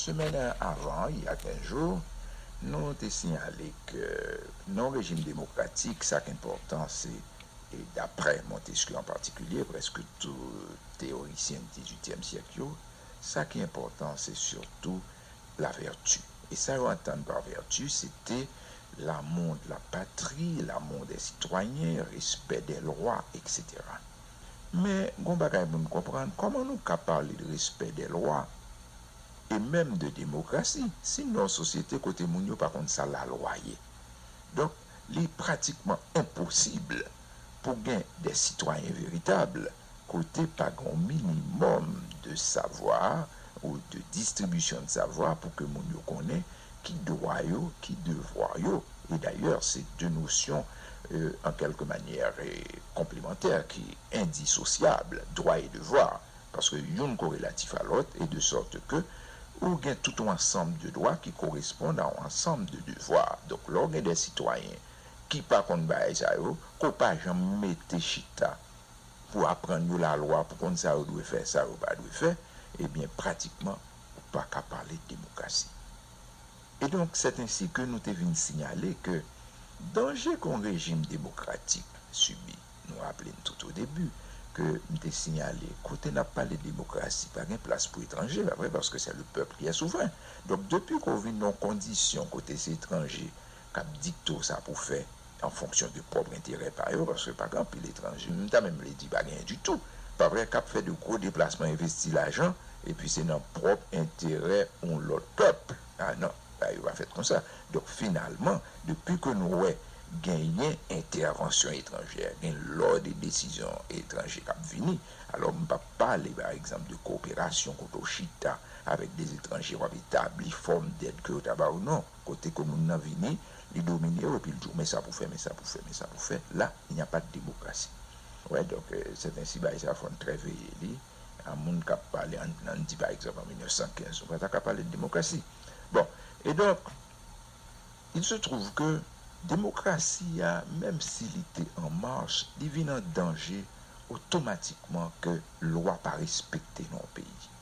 Semèn avan y a 15 jou, nou te siyale ke non rejim demokratik sa k enpòtan se, daprè Montesquieu an patikilye, prèske tou teyorisyen dizuityèm syèk yo, sa ki enpòtan se sitou la vèti. E sa yo antann pa vèti se te lamou de la patri, lamou dè sitwayen, respè dè lwa, eksetera. Men, gon bagay moun konprann, kòman nou ka pale de respè dè lwa, e menm de demokrasi, si n nan yon sosyete kote moun yo pa konn sa lalwa ye? Donk, li pratikman enposib pou gen dè sitwayen veritab kote pa gen yon minimòm de savwa ou de distribisyon de savwa pou ke moun yo konnen ki dwa yo, ki devwa yo, e dayè se de nosyon an kèlke manyè konplemantè ki endisosyab, dwa e devwa, paske youn korelatif a lòt e de sòt ke ou gen tout yon ansanm de dwa ki koresponn a yon ansanm de devwa. Donk lè w gen de sitwayen ki pa konn bagay sa yo, ke w pa janm mete chita pou aprann yo lalwa, pou konn sa yo dwe fè, sa yo pa dwe fè, ebyen pratikman Ou pa ka pale de demokrasi. E donk sètensi ke nou te vin sinyale ke danje ke yon rejim demokratik sibi, nou raple n tout o debi ke m te sinyale kote n ap pale de demokrasi pa gen plas pou etranje, pa vre? Paske sè le pèp ki è souvren. Donk depi ke w vin nan yon kondisyon kote se etranje k ap dikte w sa pou w fè an fonksyon de pwòp enterè pa yo, paske pa gen anpil etranje, m ta menm vle di pa genyen ditou, pa vre, k ap fè de gwo deplasman envesti lajan epi se nan pwòp enterè yon lòt pèp. A non, bagay yo pa fèt konsa. Donk finalman, depi ke nou wè genyen entèvansyon etranjè, gen lò de desizyon etranje k ap vini, alò m p ap pale pa egzanp de koperasyon kote w chita avèk de etranje w ap etabli fòm dèt ke yo ta ba w non, Kote ke moun nan vini, li domine ou epi l di w men sa pou w fè, men sa pou w fè, men sa pou w fè, la, il n'y a pas de démocratie. Ou wè, donk, sè ten sibay sa fò n trè veye li, a moun k ap pale, an n di pa egzanp an 1915, nou pa ta ka pale de demokrasi. Bon, e donk, il se trouve ke demokrasi a, menm si li te an mach, li vin an danje otomatikman ke lwa pa respekte nan yon peyi.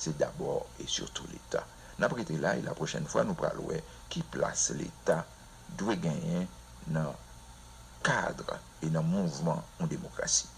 Se dabò e sitou leta. Nap rete la e la pwochèn fwa nou pral wè ki plas leta dwe genyen nan kadr e nan mouvman yon demokrasi.